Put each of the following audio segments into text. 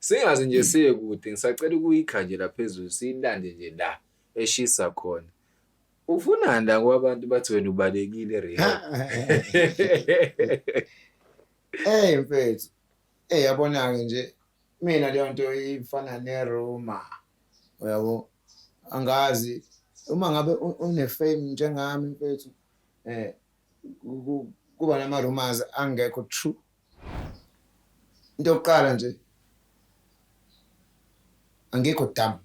Singaze nje siye kude ngisacela ukuyikha nje laphezulu siyilande nje la eshisa khona. Ufunani la ngoba abantu bathi wena ubalekile Rihanna. Hey mfethu. Eh yabona-ke nje mina leyo nto ifana neruma. Uyabo? Angazi uma ngabe u- une-fame njengami mfethu eh kuba nama-rumors angekho true into yokuqala nje angekho dam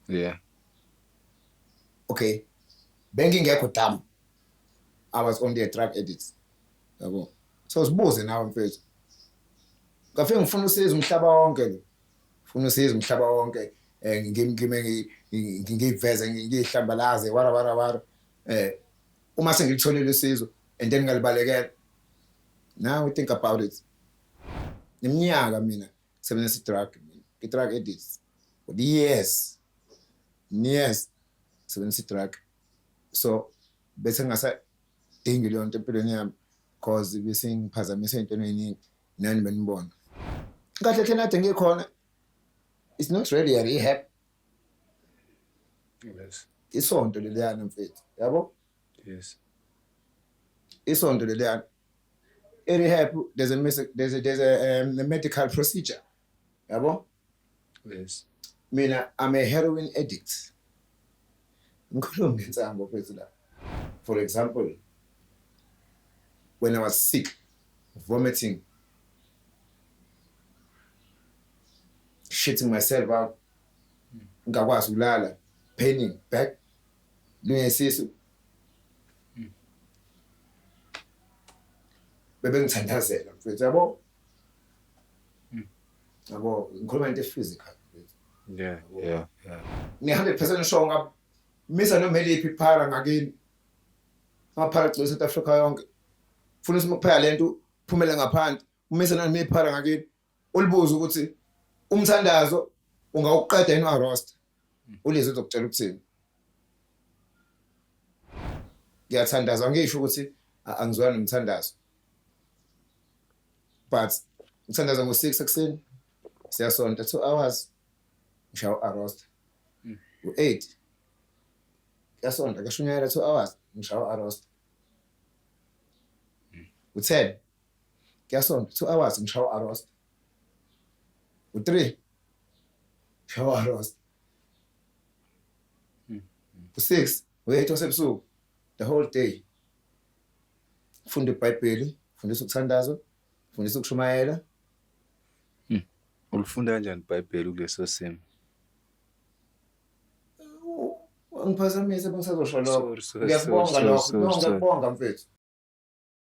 yeah okay bengingekho dam i was only a drug addict yabo so sibuze nawe mfethu ngafike ngifuna usiza umhlaba wonke lo Funa usizo umhlaba wonke eh ngimgime ngiveze ngihlambalaze wara wara wara eh uma sengilitholile usizo and then ngalibalekela now we think about it iminyaka mina sebenzisa drug mina i drug addicts for the years years sebenzisa drug so bese ngasa dingi leyo nto empilweni yami cause bese ngiphazamise into eningi nani benibona kahle hle nade ngikhona it's not really a rehab yes isonto leliyana mfethu yabo yes isonto leliyana i-rehab there's a, there's a, there's a, um, a medical procedure yabo Yes. Mina I'm a heroin addict. Ngikhuluma ngensango phezu la. For example, when I was sick, vomiting, shitting myself out, ngakwazi ukulala, paining, back, lungesisu. Bebengithandazela mfethu yabo. yabo ngikhuluma into ephysical yeah yeah yeah ni 100% sure ngab misa noma eliphi phara ngakini ngaphara gcwele South Africa yonke funa simuphela lento phumele ngaphandle umisa nami iphara ngakini ulibuza ukuthi umthandazo ungawuqeda yini wa roster ulize uzokutshela ukuthini ngiyathandaza ngisho ukuthi angizwani nomthandazo but ngithandaza ngo-six ekuseni siyasonta two hours ngishaya u-arosta hmm. u-eight kuyasonta kashunyayela two hours ngishaya u-arosta hmm. u-ten Kuyasonta 2 hours ngishawa arost. U 3 shawa arost. Hmm. U 6 u 8 wasebusuku the whole day. Funda iBhayibheli, fundisa ukuthandaza, fundisa ukushumayela. Hmm. Ulifunda kanjani iBhayibheli kuleso simo? Ngiphazamise bengisazosho lokho. Ngiyakubonga lokho. Ngiyakubonga mfethu.